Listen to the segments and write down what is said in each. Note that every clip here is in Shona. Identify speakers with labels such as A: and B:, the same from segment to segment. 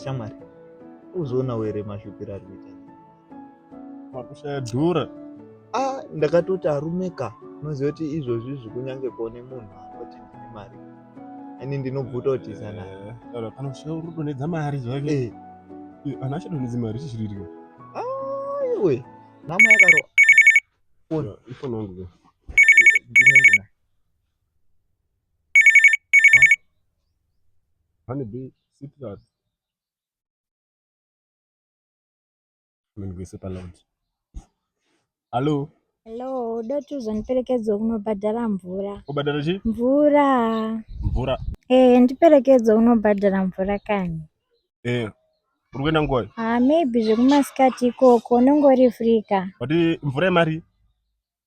A: shamwari uzoona were mashupiro ari kuita
B: makushaya dhura ah
A: ndakatoti arume ka unoziva kuti izvozvi izvi kunyange kuone munhu anoti ndine mari ini ndinobvuta kuti sanaa eh, kana kushaya uri
B: kudonhedza mari zvake eh. eh, ana achadonhedzi mari chichiririka aiwe
A: ah, nama yakaro foni
B: ifoni wangu ke ndine
A: ndina Honey
B: Beach. Citrus. Ndigwese paloud. Hello. Hello,
C: doti uzondiperekedza kunobhadhara mvura. Kubhadhara chi? Mvura. Mvura.
B: Eh, ndiperekedza
C: unobhadhara mvura kani. Eh.
B: Uri kuenda ngoi? Ah, maybe
C: zvekumasikati ikoko unongori free ka. Wati mvura yemari?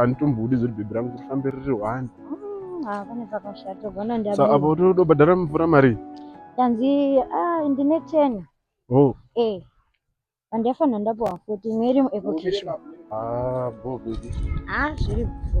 C: anditombuudi
B: zoti bhebhi rangu kuti fambe riri one mm, ah, pane
C: pakashata gona ndiapo apo todobhadhara
B: mvura mari tanzi
C: ah, ndine ten oh. eh andiafanira ndapuwa futi imwe iri muekokish ah, bo
B: bhebhi ah, zviri bho